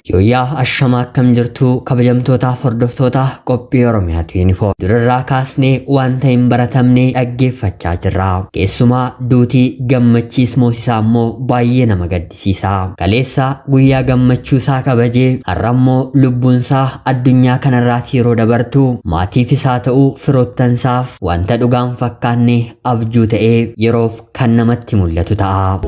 Yooyyaa ashamaa akkam jirtu kabajamtootaaf hordoftoota qophii Oromiyaatu yuunifoom. Durarraa kaasnee wanta hin baratamne dhaggeeffachaa jirra. Keessumaa duutii gammachiis moosisaa immoo baay'ee nama gaddisiisa. Sisaa. Kaleessa guyyaa gammachuu isaa kabaje, har'a immoo lubbuun isaa addunyaa kanarraati yeroo dabartu maatiifis haa ta'u firoottan isaaf wanta dhugaa hin fakkaanne abjuu ta'ee yeroof kan namatti mul'atu ta'a.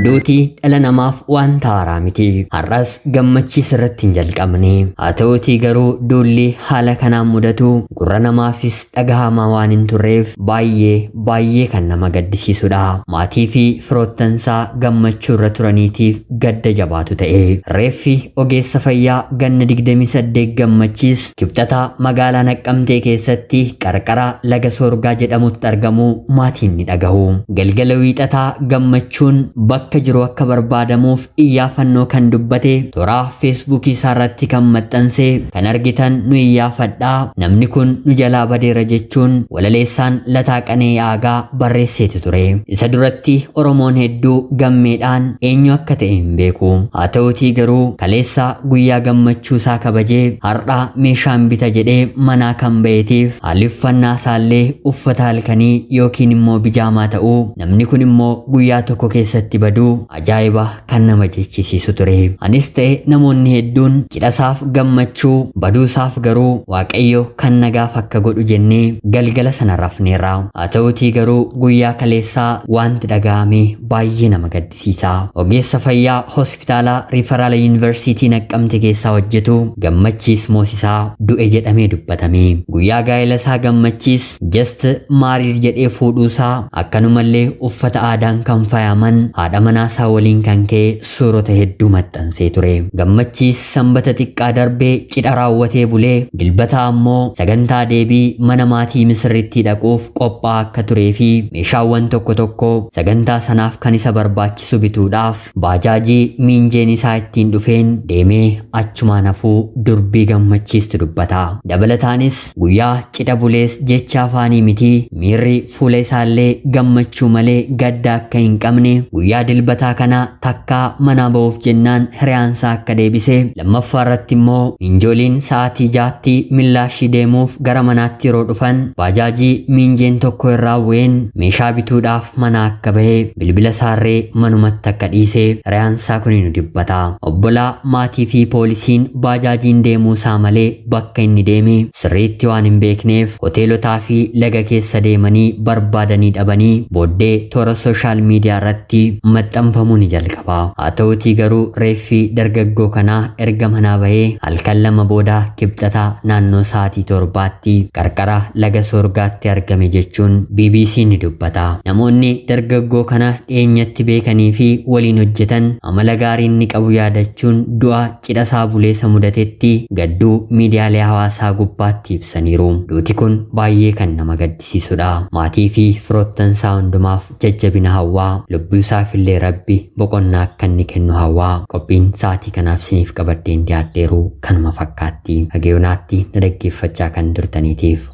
Duuti dhala namaaf wanta haaraa miti. Har'as gammachiis irratti hin jalqabne. Haa ta'uutii garuu duulli haala kanaan mudatu gurra namaafis dhagahamaa waan hin turreef baay'ee baay'ee kan nama gaddisiisudha. Maatii fi firoottansaa gammachuu irra turaniitiif gadda jabaatu ta'e. Reeffi ogeessa fayyaa ganna 28 gammachiis Kibxata magaalaa Naqqamtee keessatti qarqara laga Soorgaa jedhamutti argamuu maatiin ni dhagahu. Galgala Wiixataa Gammachuun bakka jiru akka barbaadamuuf iyyaafannoo kan dubbate toraa feesbuukii isaarratti kan maxxanse kan argitan nu iyyaafadhaa namni kun nu jalaa badeera jechuun walaleessaan Lataa Qana'ii Aagaa barreesseeti ture. Isa duratti Oromoon hedduu gammeedhaan eenyu akka ta'e hin beeku. Haa ta'uutii garuu kaleessa guyyaa gammachuu isaa kabajee har'a meeshaan bita jedhee manaa kan ba'eetiif haalli uffannaa isaallee uffata halkanii yookiin immoo bijaamaa ta'uu namni kun immoo guyyaa tokko keessatti baduu ajaa'iba kan nama jechisiisu ture. Anis ta'e namoonni hedduun cidhasaaf gammachuu, baduusaaf garuu Waaqayyo kan nagaaf akka godhu jennee galgala sana rafneerra. Haa ta'uutii garuu guyyaa kaleessaa waanti dhaga'ame baay'ee nama gaddisiisa. Ogeessa fayyaa Hospitaala Riifaraala Yuunivarsiitii Naqqamte keessaa hojjetu Gammachiis Moosisaa du'e jedhamee dubbatame. Guyyaa gaa'elasaa Gammachiis Just married jedhee fuudhuusaa akkanumallee uffata aadaan kan fayaaman haadha manaasaa waliin kan ka'e suurota hedduu maxxansee ture. Gammachiis sanbata xiqqaa darbe cidha raawwatee bulee dilbataa ammoo sagantaa deebii mana maatii misirrittii dhaquuf qophaa'aa akka tureefi meeshaawwan tokko tokko sagantaa sanaaf kan isa barbaachisu bituudhaaf baajaajii miinjeen isaa ittiin dhufeen deemee achumaan hafuu durbii gammachiistu dubbata. Dabalataanis Guyyaa cidha bulees jecha afaanii miti miirri fuula isaallee gammachuu malee gadda akka hin qabne guyyaa dilbataa kana takkaa manaa ba'uuf jennaan hiriyaansaa akka deebise lammaffaarratti immoo miinjooliin sa'aatii ja'atti millaashii deemuuf gara manaatti yeroo dhufan baajaajii miinjeen tokko irraa bu'een meeshaa bituudhaaf manaa akka bahe bilbila saarree manumatti akka dhiise hiriyaansaa kuni nu dibbata obbolaa maatii fi poolisiin baajaajiin deemuu isaa malee Bakka inni deeme sirriitti waan hin beekneef hoteelotaa fi laga keessa deemanii barbaadanii dhabanii booddee toora sooshaal miidiyaa irratti maxxanfamuu ni jalqaba. Haa ta'uutii garuu reeffi dargaggoo kanaa erga manaa bahee halkan lama booda Kibxata naannoo sa'aatii torbaatti qarqara laga Soorgaatti argame jechuun BBC'n ni dubbata. Namoonni dargaggoo kana dhiyeenyatti beekanii fi waliin hojjetan amala gaarii inni qabu yaadachuun du'a cidha Saabuleessa mudatetti gadduu miidiyaalee hawaasaa gubbaatti ibsaniiru. Duuti kun baayyee kan nama gaddisiisudha. Maatii fi firoottan isaa hundumaaf jajjabina hawwaa, lubbuu isaaf illee Rabbi boqonnaa akka inni kennu hawwaa. Qophiin sa'aatii kanaaf isiniif qabadheen dhiyaadheeru kanuma fakkaatti. Haga yoonaatti na dhaggeeffachaa kan turtaniitiif